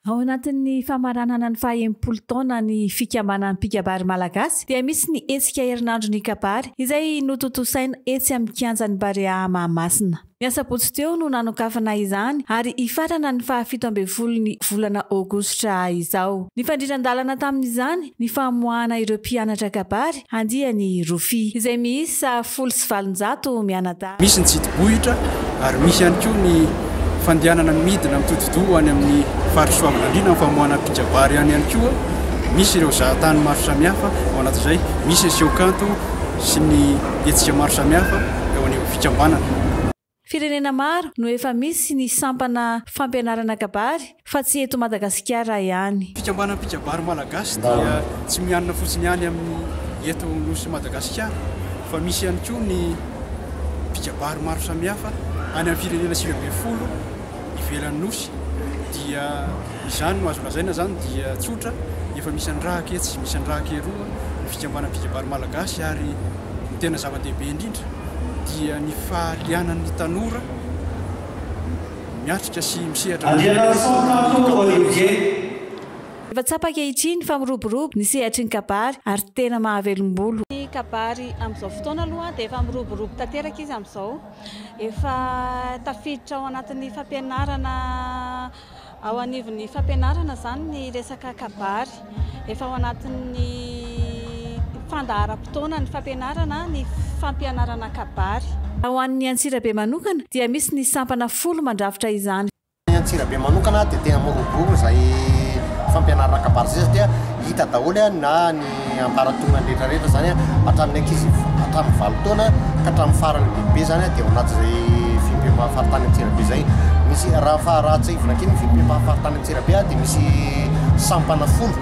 Ao anatin'ny famaranana ny faha enimpolo taona ny fikambanan'ny mpikabary malagasy dia misy ny hetsika herinandron'ny kabary izay notontosaina etsy amin'ny kianjan'ny Barea Mahamasina. Ny asabotsy teo no nanokafana izany ary hifarana ny faha fito ambin'ny folon'ny volana aogositra izao. Nifandrindran-dalana tamin'izany ny famoahana ireo mpianatra kabary, andiany rofia. Izay miisa folo sy valonjato mianadahy. Misy ny jidibohitra ary misy ihany koa ny fandehanana midina mitodi-doha ho any amin'ny Faritra Soavinandriana amin'ny famoahana mpijabary any ihany koa. Misy ireo zahatany maro samihafa ao anatin'izay, misy ny seho kanto sy ny hetsika maro samihafa eo anivon'ny fikambanana. Firenena maro no efa misy ny sampana fampianarana kabary fa tsy eto Madagasikara ihany. Fikambanam-pikabary malagasy dia tsy mianina fotsiny ihany amin'ny eto Nosy Madagasikara fa misy ihany koa ny mpikabary maro samihafa any amin'ny firenena sivy ambin'ny folo ivelan'ny Nosy dia izany no azo lazaina zany dia tsotra efa misy andrahaka etsy misy andrahaka eroa ny fikambanam-pikabary malagasy ary ny tena zava-dehibe indrindra dia ny fahalianan'ny tanora miatrika sy misehatra ny Efa tsapa ankehitriny fa miroborobo ny sehatry ny kabary ary tena mahavelom-bolo. Ny kabary amin'izao fotoana aloha dia efa miroborobo tanteraka izy amin'izao. Efa tafiditra ao anatin'ny fampianarana ao anivon'ny fampianarana izany ny resaka kabary. Efa ao anatin'ny fandaharam-potoanan'ny fampianarana ny fampianarana kabary. Ho an'ny Antsirabe manokana dia misy ny sampana folo mandrafitra izany. Ny Antsirabe manokana dia tena miroborobo izay fampianarana kabary izay satria hita daholo na ny ambaratongan'ny rehetra rehetra izany hatramin'ny ankizy hatramin'ny valo taona ka hatramin'ny faran'ny lehibe izany dia ao anatin'izay fiompiam-paham faritany Antsirabe izay. Misy raha fa raha tsiahivina kely ny fiompiam-paham faritany Antsirabe dia misy sampana folo.